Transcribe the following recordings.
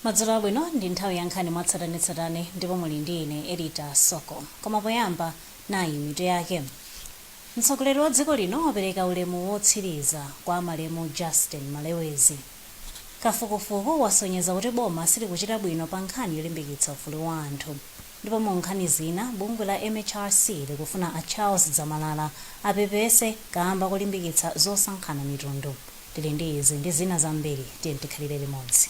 madzulo abwino ndi nthawi yankhani mwatsatanetsatane ndipo muli ndi ine edith soko koma poyamba nayi mitu yake mtsogoleri wa dziko lino wapereka ulemu wotsiriza kwa malemu justin malewezi Kafukufuku wasonyeza kuti boma silikuchita bwino pa nkhani yolimbikitsa ufulu wa anthu. Ndipo mu nkhani zina, bungwe la MHRC likufuna a Charles Zamalala apepese kaamba kolimbikitsa zosankhana mitundu. Tili ndi izi ndi zina zambiri, tiyeni tikhalire limodzi.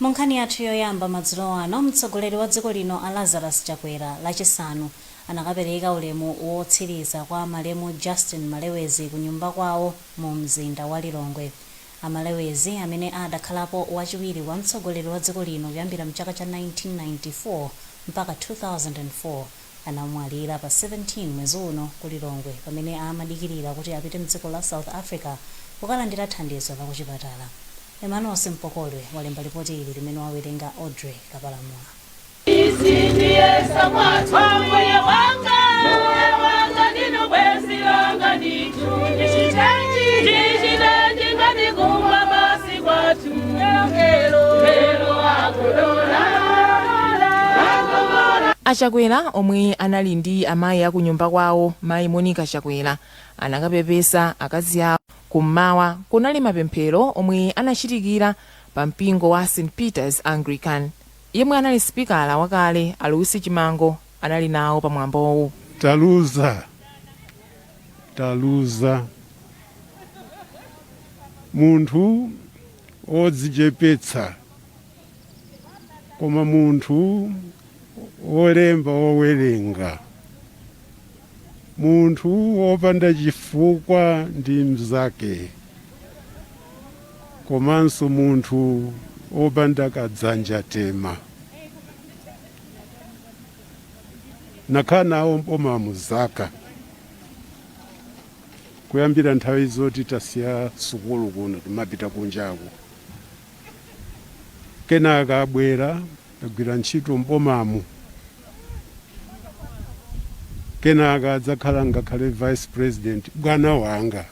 Mu nkhani yathu yoyamba madzulo ano, mtsogoleri wa dziko lino a Lazarus Chakwera lachisanu anakapereka ulemu wotsiriza kwa malemu Justin Malewezi ku nyumba kwawo mu mzinda wa Lilongwe. A Malewezi amene adakhalapo wachiwiri wa mtsogoleri wa dziko lino kuyambira mchaka cha 1994 mpaka 2004, anamwalira pa 17 mwezi uno ku Lilongwe pamene amadikilira kuti apite mdziko la South Africa kukalandira thandizo la kuchipatala. Emmanuel Simpokolwe walemba lipoti ili limene wawerenga Audrey Kapalamula. Izi ndiye sakwathu Ambuye wanga Mbuye wanga ndinu bwenzi langa ndithu Ndichitenji Ndichitenji ngati kumba basi kwathu A Chakwera omwe anali ndi amayi a kunyumba kwawo mayi Monica Chakwera anakapepesa akazi awo. Ku mmawa kunali mapemphero omwe anachitikira pa mpingo wa St Peters Anglican. Yemwe anali sipikala wakale a Louis Chimango anali nawo pa mwambowu. taluza taluza munthu odzichepetsa koma munthu wolemba wowerenga munthu wopanda chifukwa ndi mzake komanso munthu wopanda kadzanja tema nakhala nawo m'bomamu zaka kuyambira nthawi zoti tasiya sukulu kuno timapita kunjaku kenaka abwera agwira ntchito m'bomamu kenaka adzakhala ngakhale vice president bwana wanga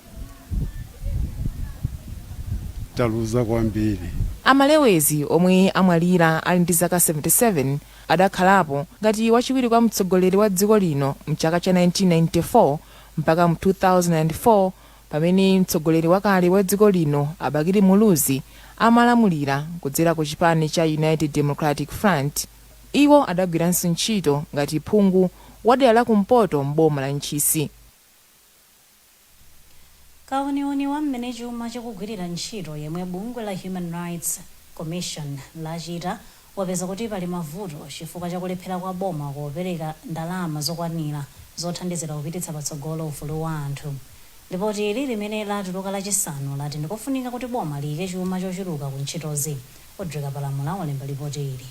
taluza kwambiri. A Malewezi omwe amwalira ali ndi zaka 77 adakhalapo ngati wachiwiri kwa mtsogoleri wa dziko lino mchaka cha 1994 mpaka mu 2004 pamene mtsogoleri wakale wa dziko lino a Bakili Muluzi amalamulira kudzera ku chipani cha United Democratic Front. Iwo adagwiranso ntchito ngati phungu wa dera la kumpoto m'boma la Ntchisi. Kauniuni wa mmene chuma chikugwirira ntchito yemwe bungwe la Human Rights Commission lachita wapeza kuti pali mavuto chifukwa cha kulephera kwa boma kupereka ndalama zokwanira zothandizira kupititsa patsogolo ufulu wa anthu. Lipotili, limene latuluka Lachisanu, lati ndikofunika kuti boma liike chuma chochuluka ku ntchitozi. Audrey Kapalamula walemba lipoti ili.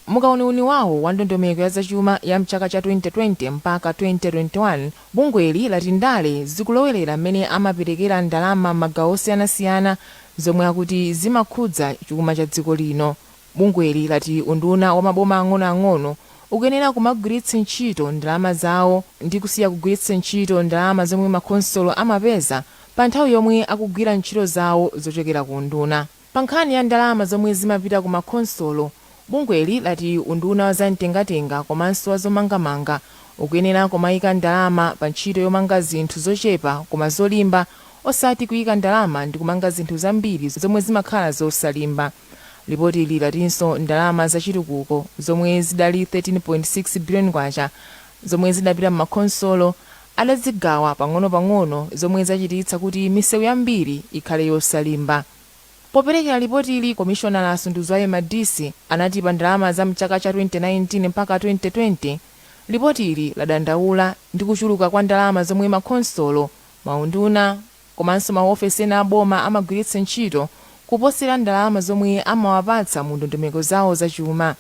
Mu kauniuni wawo wa ndondomeko ya zachuma ya mchaka cha 2020 mpaka 2021, bungweli lati ndale zikulowerera mmene amaperekera ndalama mmagawo osiyanasiyana zomwe akuti zimakhudza chuma cha dziko lino. Bungweli lati unduna wa maboma ang'onoang'ono ukuyenera kumagwiritsa ntchito ndalama zawo ndi kusiya kugwiritsa ntchito ndalama zomwe makhonsolo amapeza pa nthawi yomwe akugwira ntchito zawo zochokera ku unduna. Pa nkhani ya ndalama zomwe zimapita ku ma khonsolo, bungweli lati unduna wa za mtengatenga komanso wa zomangamanga ukuyenera kumayika ndalama pa ntchito yomanga zinthu zochepa koma zolimba osati kuyika ndalama ndikumanga zinthu zambiri zomwe zimakhala zosalimba. Lipotili latinso ndalama za chitukuko zomwe zidali K13.6 biliyoni zomwe zidapita m'makhonsolo adazigawa pang'onopang'ono zomwe zachititsa kuti misewu yambiri ikhale yosalimba. Poperekera lipotili, komishonala a Sunduzwayo Madise anati pa ndalama za m'chaka cha 2019 mpaka 2020, lipotili ladandaula ndi kuchuluka kwa ndalama zomwe makhonsolo, maunduna komanso maofesi ena a boma amagwiritsa ntchito kuposera ndalama zomwe amawapatsa mu ndondomeko zawo za chuma.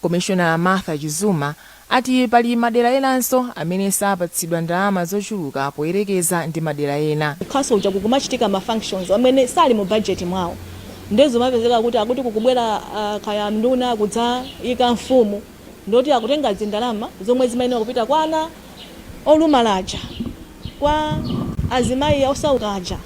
Komishonala Martha Chizuma ati pali madera enanso amene sapatsidwa ndalama zochuluka poyerekeza ndi madera ena. Ku council kuja kukumachitika ma functions amene sali mu budget mwawo nde zumapezeka kuti akuti kukubwera kaya nduna kudzayika mfumu ndoti akutenga zindalama zomwe zimayenera kupita kwa ana olumala aja. kwa azimayi osauka aja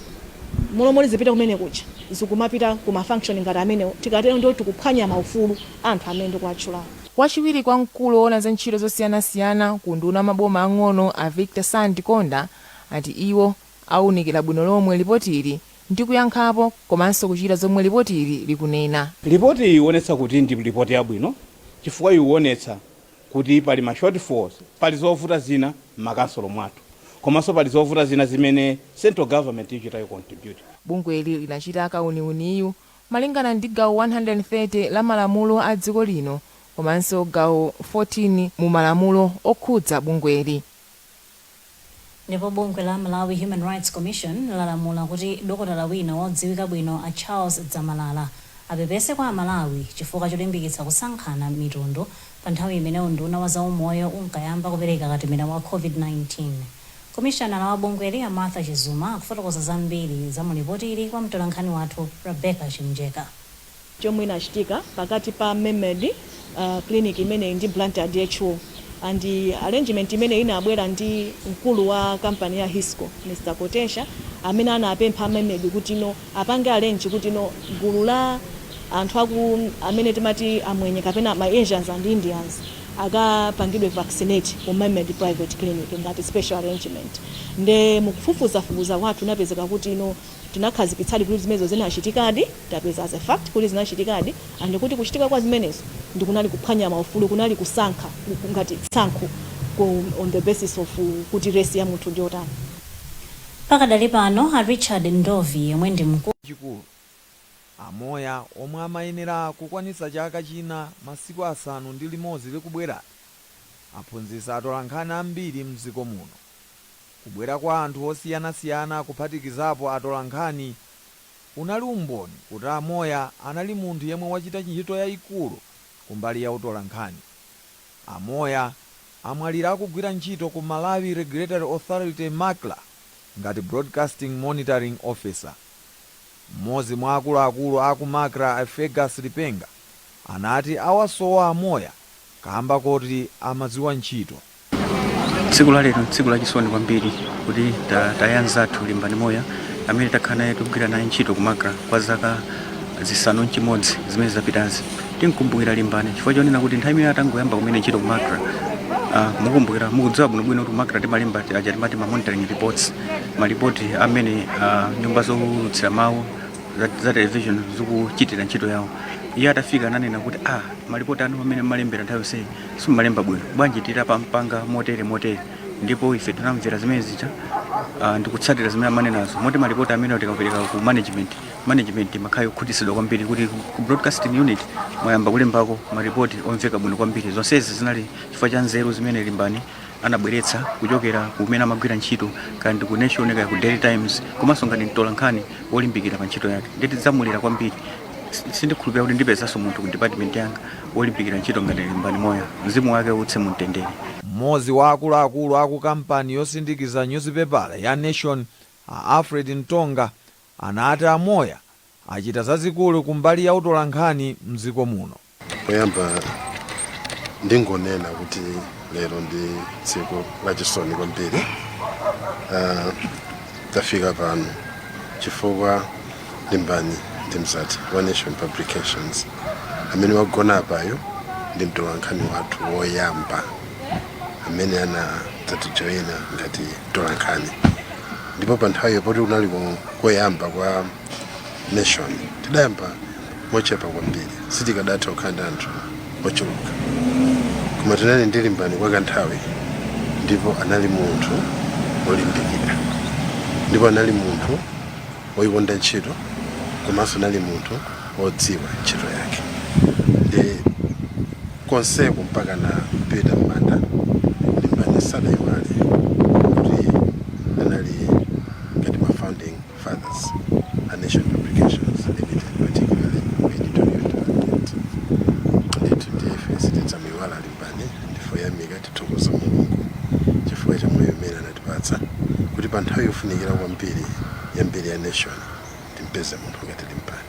m'malo moti zipite kumene kuja zikumapita ku ma function ngati amenewo tikatero ndiye kuti tikuphwanya maufulu a anthu amene ndikuwatchulawo. Wachiwiri kwa mkulu woona za ntchito zosiyanasiyana ku unduna wa maboma ang'ono a Victor Sandikonda ati iwo awunikira bwino lomwe lipotili ndi kuyankhapo komanso kuchita zomwe lipotili likunena. Lipoti iyi iwonetsa kuti ndi lipoti yabwino chifukwa iwonetsa kuti pali ma shortfalls, pali zovuta zina mma council mwathu komanso pali zovuta zina zimene central government ichita contribute. Bungweli linachita kauniuniyu malingana ndi gawo 130 la malamulo a dziko lino komanso gawo 14 mu malamulo okhudza bungweli. Ndipo bungwe la Malawi Human Rights Commission lalamula kuti dokotala wina wodziwika bwino a Charles Dzamalala apepese kwa Amalawi chifukwa cholimbikitsa kusankhana mitundu pa nthawi imene unduna wa zaumoyo unkayamba kupereka katemera wa Covid-19. Komishanala wa bungweli a Martha Chizuma akufotokoza zambiri za mu lipotili kwa mtolankhani wathu Rebecca Chimjeka. chomwe inachitika pakati pa Memmerd clinic imeneyi ndi Blantyre DHO and arrangement imene inabwera ndi mkulu wa company ya Hisco Mr Kotecha amene anapempha a Memmerd kuti no apange arrange kuti no gulu la anthu amene timati amwenye kapena ma Asians and Indians akapangidwe vaccinate ku Memmerd private clinic ngati special arrangement nde mukufufuzafufuza kwathu inapezeka kuti no tinakhazikitsadi kuti zimenezo zinachitikadi, tapeza as a fact kuti zinachitikadi, and kuti kuchitika kwa zimenezo ndi kunali kuphwanya maufulu, kunali kusankha ngati tsankho on the basis of kuti race ya munthu ndi yotani. Pakadali pano, a Richard Ndovi yemwe ndi mku. chikulu. A Moya omwe amayenera kukwanitsa chaka china masiku asanu ndi limodzi likubwerali, aphunzitsa atolankhani ambiri mdziko muno. Kubwera kwa anthu osiyanasiyana kuphatikizapo atolankhani, unali umboni kuti a Moya anali munthu yemwe wachita ntchito yaikulu kumbali ya utolankhani. A Moya amwalira akugwira ntchito ku Malawi Regulatory Authority, Macra, ngati Broadcasting Monitoring Officer. M'modzi mwa akuluakulu a ku Macra a Fergus Lipenga anati awasowa a Moya kamba koti amadziwa ntchito. tsiku la lero tsiku lachisoni kwambiri kuti ta- taya nzathu Limbani Moya amene takhala naye tikugwira naye ntchito ku Macra kwa zaka zisanu ndi chimodzi zimene zapitazi timkumbukira Limbani chifukwa chonena kuti nthawi imene atangoyamba kumene ntchito ku Macra ah, mukumbukira mukudziwa bwinobwino kuti ku Macra timalemba ti- aja timati ma monitoring reports malipoti amene ah, nyumba zoulutsira mawu za, za television zikuchitira ntchito yawo iye atafika ananena kuti ah malipoti anu amene mmalembera nthawi yonseyi simumalemba bwino bwanji titamapanga motere motere ndipo ife tinamvera zimene zija ah, ndikutsatira zimene amanenazo moti malipoti amene tikapereka ku management management amakhala okhutitsidwa kwambiri kuti ku- ku broadcasting unit mwayamba kulembako malipoti omveka bwino kwambiri zonsezi zinali chifukwa cha nzeru zimene Limbani anabweretsa kuchokera kumene amagwira ntchito kaya ndi ku nation kaya ku daily times komanso ngati mtola nkhani wolimbikira pa ntchito yake ndiye tidzamulira kwambiri sindikhulupirira kuti ndipezanso munthu ku department yanga wolimbikira ntchito ngati limbani moya mzimu wake uuse mu mtendere mmodzi wa akuluakulu aku kampani yosindikiza nyuzipepala ya nation a alfred ntonga anati a moya achita zazikulu ku mbali ya utolankhani mdziko muno. Poyamba ndingonena kuti lero ndi tsiku lachisoni kwambiri uh, tafika pano chifukwa limbani ndi mzati wa nation publications amene wagona apayo ndi mtolankhani wathu woyamba amene anadzatijoyina ngati mtolankhani ndipo pa nthawiyo poti kunali koyamba kwa nation tidayamba mochepa kwambiri sitikadatha kukhala ndi anthu ochuluka koma tinali ndi limbani kwa kanthawi ndipo anali munthu wolimbikira ndipo anali munthu woyikonda ntchito komanso anali munthu wodziwa ntchito yake nde konseko mpakana kupita m'manda limbani sadaiwale kuti anali ngati ma founding Fathers, a Nation Publications Limited particularly editorial department ndithu ndiye ife sitidzamuiwala alimbani ndife oyamika tithokoza mulungu chifukwa cha moyo umene anatipatsa kuti pa nthawi yofunikira kwambiri ya mbiri ya nation timpeze munthu ngati limbani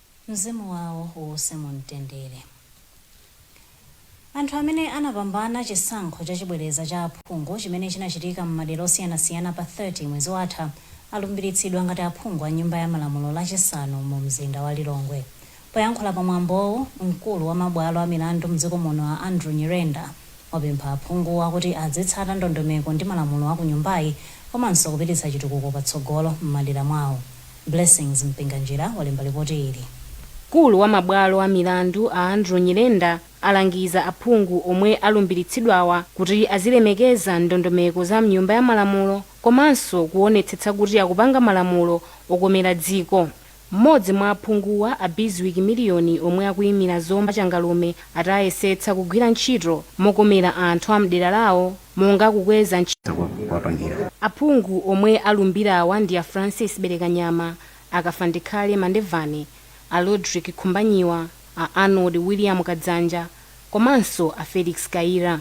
Mzimu wawo uuse mumtendere. Anthu amene anapambana chisankho chachibwereza cha aphungu chimene chinachitika m'madera osiyanasiyana pa 30 mwezi watha alumbiritsidwa ngati aphungu a Nyumba ya Malamulo Lachisanu mumzinda wa Lilongwe. Poyankhula pamwambowu, mkulu wa mabwalo amilandu m'dziko muno a Andrew Nyirenda wapempha aphunguwa kuti adzitsata ndondomeko ndi malamulo a ku Nyumbayi komanso kupititsa chitukuko patsogolo m'madera mwawo. Blessings Mpinganjira walemba lipoti ili. Mkulu wa mabwalo a milandu a Andrew Nyirenda alangiza aphungu omwe alumbiritsidwawa kuti azilemekeza ndondomeko za mnyumba ya malamulo komanso kuwonetsetsa kuti akupanga malamulo okomera dziko. Mmodzi mwa aphunguwa a Bizwick Miliyoni omwe akuyimira Zomba Changalume ati ayesetsa kugwira ntchito mokomera anthu a mdera lawo. monga kukweza ntchito kwa kuwapangira. Aphungu omwe alumbirawa ndi a Francis Belekanyama, a Kafandikhale Mandevana, a Rodrick Khumbanyiwa, a Arnold William Kadzanja komanso a Felix Kayira.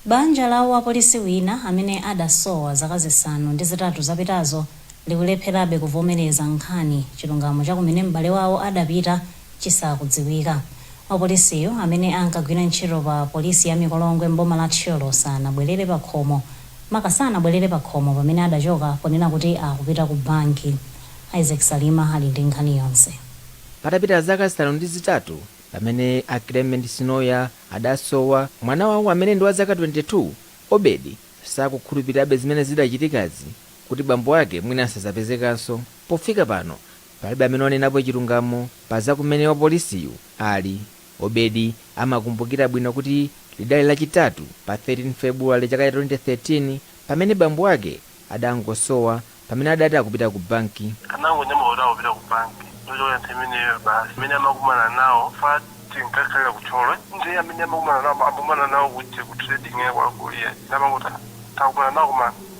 Banja la wapolisi wina amene adasowa zaka zisanu ndi zitatu zapitazo likulepherabe kuvomereza nkhani chilungamo cha kumene m'bale wawo adapita chisakudziwika. Wapolisiyu, amene ankagwira ntchito pa polisi ya Mikolongwe m'boma la Thyolo sanabwerere pakhomo pamene adachoka ponena kuti akupita ku banki. Isaac Salima ali ndi nkhani yonse. Patapita zaka zisanu ndi zitatu pamene a Clement Sinoya adasowa, mwana wawo amene ndi wa zaka 22, Obedi, sakukhulupirirabe zimene zidachitikazi kuti bambo ake mwina sadzapezekanso. Pofika pano, Palibe amene wanenapo chilungamo pa za kumene wapolisiyu ali. Obedi amakumbukira bwino kuti lidali Lachitatu pa 13 February chaka cha 2013 pamene bambo ake adangosowa pamene adati akupita ku banki. Anangonyamuka kuti akupita ku banki ndi kuchokera nthawi imeneyo basi. Amene amakumana nawo chifukwa tinkakhalira ku Thyolo ndiye amene amakumana nawo amakumana nawo ku Trading ya kwa Goliati ndiye amangoti ah, takumana nawo koma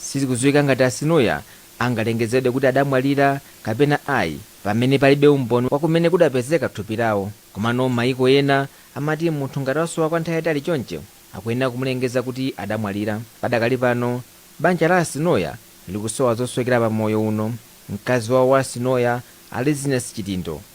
Sizikudziwika ngati a Sinoya angalengezedwe kuti adamwalira kapena ayi pamene palibe umboni wa kumene kudapezeka thupi lawo. Komano mayiko ena amati munthu ngati wasowa kwa nthawi yaitali chonchi akuyenera kumulengeza kuti adamwalira. Padakali pano, banja la a Sinoya likusowa zosowekera pa moyo uno. Mkazi wawo wa a Sinoya, a Liziness Chidindo,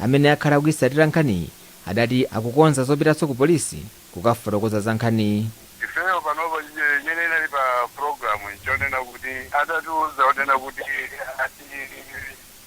Amene akhala akuitsatira nkhaniyi adati akukonza zopitanso ku polisi kukafotokoza za nkhaniyi. Ifeyo panopa imene inali pa pulogalamu nchonena kuti atatiuza onena kuti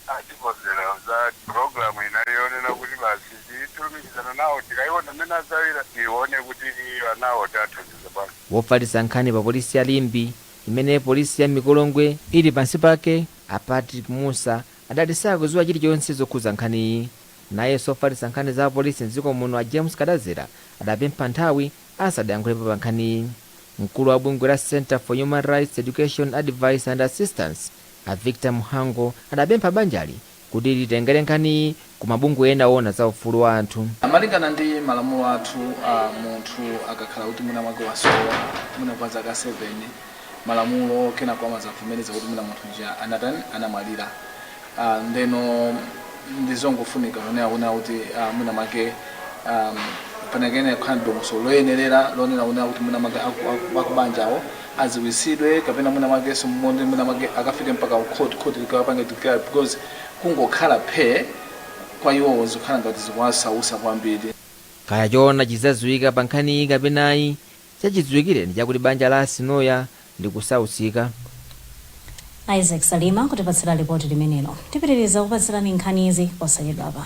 atikonzera za pulogalamu inali yonena kuti basi tilumikizane nawo tikaone mmene azagawire tione kuti anawo tiwathandiza bwanji. Wofalitsa nkhani pa polisi ya Limbe imene polisi ya Mikolongwe ili pansi pake, a Patrick Mussa adati sakuziwa chilichonse zokhudza nkhaniyi. Nayenso ofalitsa nkhani za polisi m'dziko muno a James Kadadzera adapempha nthawi asadayankhulepo pa nkhaniyi. Mkulu wa bungwe la Centre for Human Rights Education Advice and Assistance a Victor Mhango adapempha banjali kuti litengere nkhaniyi ku mabungwe ena oona za ufulu wa anthu. a Malingana ndi malamulo athu a munthu akakhala kuti mwina mwake wasowa mwina kwa zaka 7 malamulo kenako amazavomereza kuti mwina munthu uja anatani anamwalira a ndeno ndi zongofunika kunena kunena kuti a mwina mwake a panakayenera kukhala ndi dongosolo loyenerera lonena kunena kuti mwina mwake aku- aku- akubanjawo adziwitsidwe kapena mwina mwakenso muone mwina mwake akafike mpaka ku court, court likawapange declare because Kungokhala phee kwa iwowo zikukhala ngati zikuwasausa kwambiri. Kaya choona chidzadziwika pa nkhaniyi kapena ayi, chachidziwikire ndi chakuti banja la a Sinoya likusautsika. A Isaac Salima kutipatsira lipoti limenelo. Tipitiriza kukupatsirani nkhanizi posachedwapa.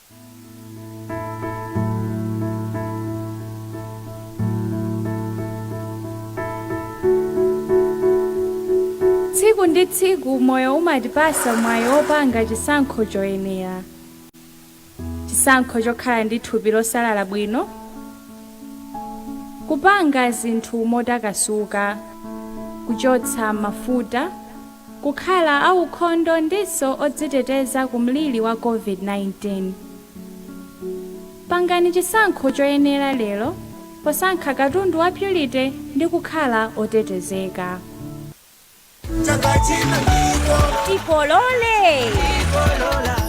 Tsiku ndi tsiku moyo umatipasa mwayi wopanga chisankho choyenera. Chisankho chokhala ndi thupi losalala bwino, kupanga zinthu motakasuka, kuchotsa mafuta, kukhala aukhondo ndinso odziteteza ku mliri wa COVID-19. Pangani chisankho choyenera lero posankha katundu wa Purity ndi kukhala otetezeka. Chaka chino ndikolola. Tikolole!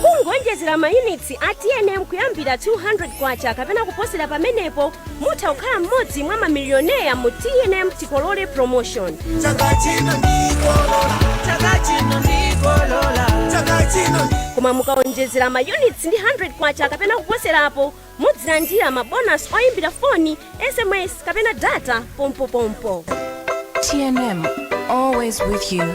Kungoonjezera mayunitsi a tnm kuyambira 200 kwacha kapena kuposera pamenepo, mutha kukhala mmodzi mwa mamilioneya mu tnm tikolole promotion chaka chino ndikolola chaka chino ndikolola chaka chino koma mukaonjezera ma units ndi 100 kwacha kapena kuposerapo mudzilandira ma bonus oyimbira foni sms kapena data pompopompo TNM, always with you.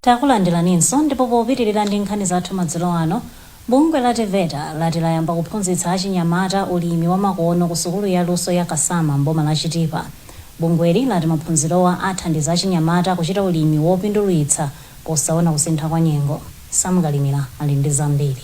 Takulandilaninso ndipo popitilira ndi nkhani zathu madzulo ano, bungwe la TEVETA lati layamba kuphunzitsa achinyamata ulimi wamakono ku sukulu ya luso ya Kasama m'boma la Chitipa. Bungweli lati maphunzirowa athandiza achinyamata kuchita ulimi wopindulitsa posaona kusintha kwa nyengo. Sam Kalimira ali ndi zambiri.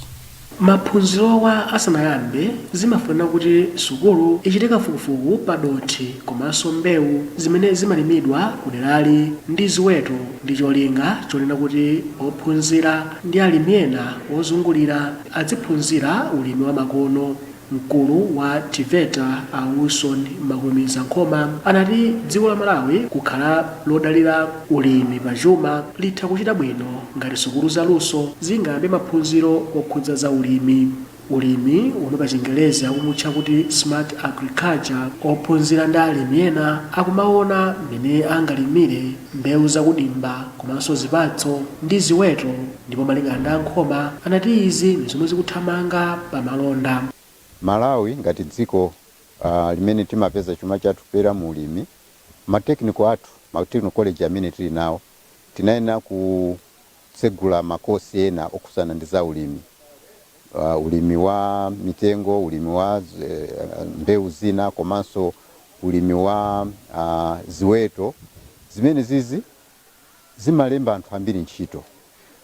Maphunzirowa asanayambe zimafunikira kuti sukulu ichite kafukufuku pa dothi komanso mbewu zimene zimalimidwa ku derali ndi ziweto ndi cholinga chonena kuti ophunzira ndi alimi ena ozungulira adziphunzira ulimi wa makono. Mkulu wa TEVETA a Wilson Makulumiza Nkhoma anati dziko la Malawi kukhala lodalira ulimi pa chuma litha kuchita bwino ngati sukulu za luso zingayambe maphunziro okhudza za ulimi, ulimi womwe pa chingerezi akumutcha kuti smart agriculture, ophunzira ndi alimi ena akumawona mmene angalimire mbewu za kudimba komanso zipatso ndi ziweto. Ndipo malingana ndi a Nkhoma anati izi ndi zomwe zikuthamanga pa malonda. Malawi ngati dziko limene timapeza chuma chathu kupyolera mu ulimi, ma technical athu, ma technical college amene tili nawo tinayenera kutsegula ma course ena okhudzana ndi za ulimi, ulimi wa mitengo, ulimi wa mbewu zina komanso ulimi wa ziweto zimenezizi. zimalemba anthu ambiri ntchito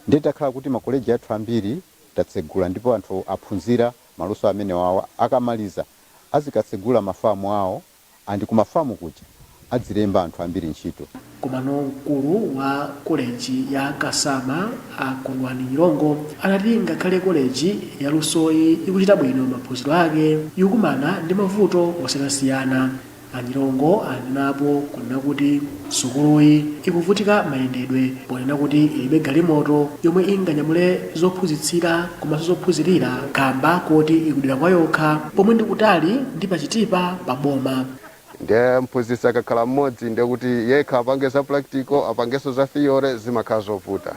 ndiye takhala kuti ma college athu ambiri tatsegula ndipo anthu aphunzira maluso amenewawa akamaliza azikatsegula ma farm awo and ku ma farm kuja adzilemba anthu ambiri ntchito. Komano mkulu wa koleji ya Kasama a Kondwani Nyirongo anati ngakhale koleji ya lusoyi ikuchita bwino maphunziro ake, ikukumana ndi mavuto osiyanasiyana. A Nyirongo anenapo kunena kuti sukuluyi ikuvutika mayendedwe ponena kuti ilibe galimoto yomwe inganyamule zophunzitsira komanso zophunzirira kamba koti ikudera kwayokha pomwe ndikutali ndi pa Chitipa pa boma. Nde mphunzitsi akakhala mmodzi ndekuti yekha apange za practical apangenso za theory zimakhala zovuta.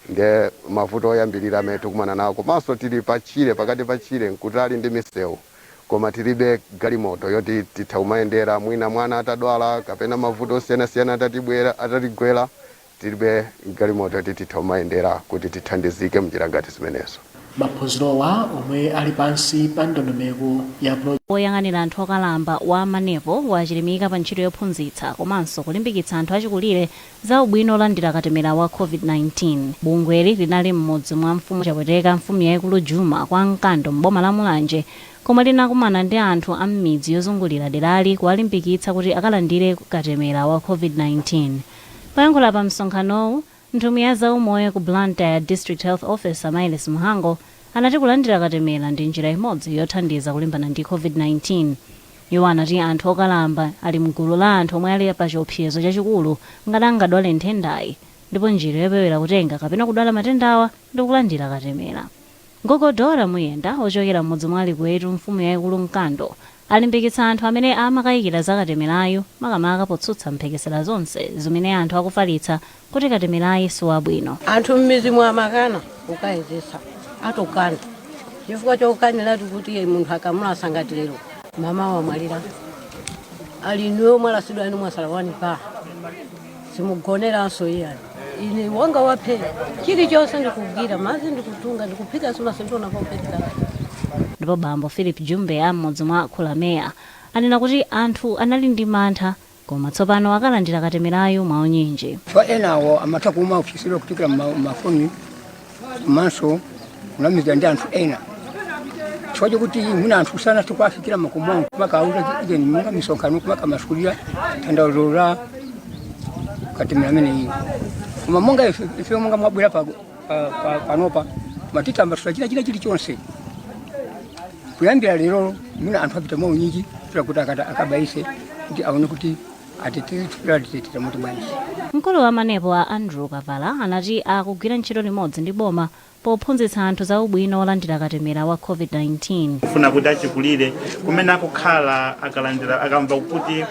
Nde mavuto oyambilira amene tukumana nawo komanso tili pa tchire pakati pa tchire nkutali ndi misewu koma tilibe galimoto yoti titha kumayendera mwina mwana atadwala kapena mavuto osiyanasiyana atatigwera tilibe galimoto yoti titha kumayendera kuti tithandizike mnjira ngati zimenezo. Maphunzirowa omwe ali pansi pa ndondomeko ya... Woyang'anira anthu okalamba wa Manepo wachilimika pa ntchito yophunzitsa komanso kulimbikitsa anthu achikulire Za ubwino olandira katemera wa Covid-19 Bungweli linali m'mudzi mwa Mfumu Chapweteka, Mfumu yaikulu Juma kwa Mkando m'boma la Mulanje komwe linakumana ndi anthu a m'midzi yozungulira derali kuwalimbikitsa kuti akalandire katemera wa Covid-19. Poyankhula pa msonkhanowu, nthumwi ya zaumoyo ku Blantyre District Health Officer Myles Mhango anati kulandira katemera ndi njira imodzi yothandiza kulimbana ndi Covid-19. Iwo anati anthu okalamba ali mgulu la anthu omwe ali pa chiopsezo chachikulu ngati angadwale nthendayi ndipo njira yopewera kutenga kapena kudwala matendawa ndi kulandira katemera. Gogo Dora Muyenda ochokera m'mudzi mwa Likwetu mfumu yaikulu Mkando alimbikitsa anthu amene amakayikira za katemerayu makamaka potsutsa mphekesera zonse zimene anthu akufalitsa kuti katemerayu si wabwino. Anthu m'midzimu amakana kukayezetsa. Atokana chifukwa chokanira ati kuti munthu akamulasa ngati lero, mamawa wamwalira. Ali inuyo mwalasidwa inu mwatsala wani pa. Simugoneranso iyani. Ine wanga waphera. Chilichonse ndikugwira, madzi ndikutunga, ndikuphika sinatione popweteka. Ndipo bambo Phillip Jumbe a m'mudzi mwa Khulamea anena kuti anthu anali ndi mantha Koma tsopano akalandira katemerayu mwaunyinji. Kwa ena awo amatha kumaopsezedwa kuchokera mmafoni komanso kunamizidwa ndi anthu ena chifukwa chokuti mwina anthu sanathe kuwafikira mmakomo awo kumakauza ijeni monga misonkhano kumakamasulira tanthauzo la katemera ameneyu koma monga ife monga mwabwera pa pa- pa- panopa matitambasula china chilichonse kuyambira lero mwina anthu apita mwaunyinji kuchita kuti akata- akabayise kuti aone kuti ateteze thupi lawo litetezeke motani bwanji mkulu wa manepo a andrew kavala anati akugwira ntchito limodzi ndi boma pophunzitsa anthu za ubwino wolandira katemera wa covid-19 kufuna kuti achikulire kumene akukhala akalandira akamva kuti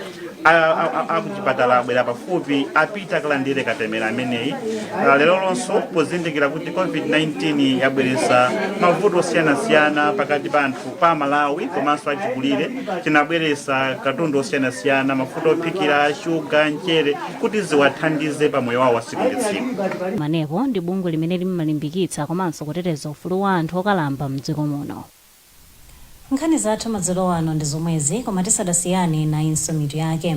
akuchipatala abwera pafupi apita akalandire katemera ameneyi Ah, lero lonso pozindikira kuti covid-19 yabweretsa mavuto osiyanasiyana pakati pa anthu pa Amalawi komanso achikulire tinabweretsa katundu osiyanasiyana mafuta ophikira shuga mchere kuti ziwathandize pa moyo wawo wa tsiku ndi tsiku manepo ndi bungwe limene limalimbikitsa komanso kuteteza ufulu wa anthu okalamba mdziko muno Nkhani zathu madzulo ano ndi zomwezi koma tisadasiyane nayinso mitu yake.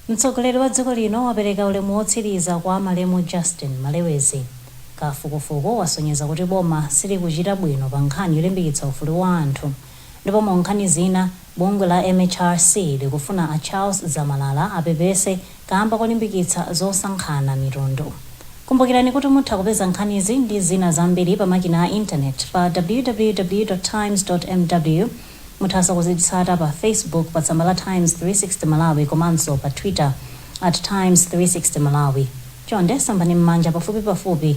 Mtsogoleri wa dziko lino wapereka ulemu wotsiriza kwa malemu Justin Malewezi. Kafukufuku wasonyeza kuti boma silikuchita bwino pa nkhani yolimbikitsa ufulu wa anthu ndipo mu nkhani zina bungwe la MHRC likufuna a Charles Zamalala apepese kaamba kolimbikitsa zosankhana mitundu. Kumbukirani kuti mutha kupeza nkhanizi ndi zina zambiri pa makina a intaneti pa www. Times. mw. Muthanso kuzitsata pa Facebook pa tsamba la Times 360 Malawi komanso pa Twitter at Times 360 Malawi. Chonde sambani mmanja pafupipafupi.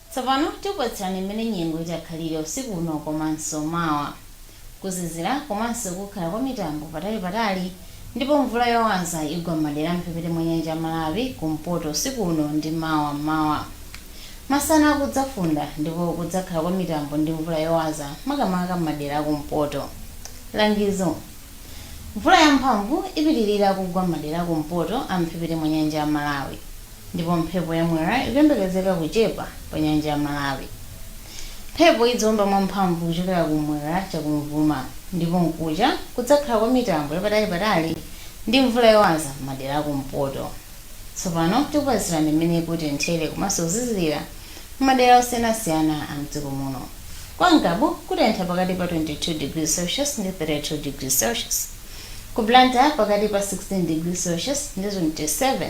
Tsopano tikupatsirani mmene nyengo itakhalire usiku uno komanso mawa. Kuzizira komanso kukhala kwa mitambo patalipatali ndipo mvula yowaza igwa m'madera a m'mphepete mwa nyanja ya Malawi kumpoto usiku uno ndi mawa m'mawa. Masana kudzafunda ndipo kudzakhala kwa mitambo ndi mvula yowaza makamaka m'madera a kumpoto. Langizo, Mvula yamphamvu ipitirira kugwa m'madera a kumpoto a m'mphepete mwa nyanja ya Malawi. Ndipo mphepo ya Mwera ikuyembekezeka kuchepa pa nyanja ya Malawi. Mphepo idziomba mwa mphamvu kuchokera ku m'mwera cha kumvuma ndipo mkucha kudzakhala kwa mitambo ya patali patali ndi mvula yowaza m'madera a kumpoto. Tsopano tikupatsirani m'mene kutenthere komanso kuzizirira m'madera osiyanasiyana a m'dziko muno. Kwa Ngabu kutentha pakati pa 22 degrees Celsius ndi 32 degrees Celsius. Ku Blantyre pakati pa 16 degrees Celsius ndi 27.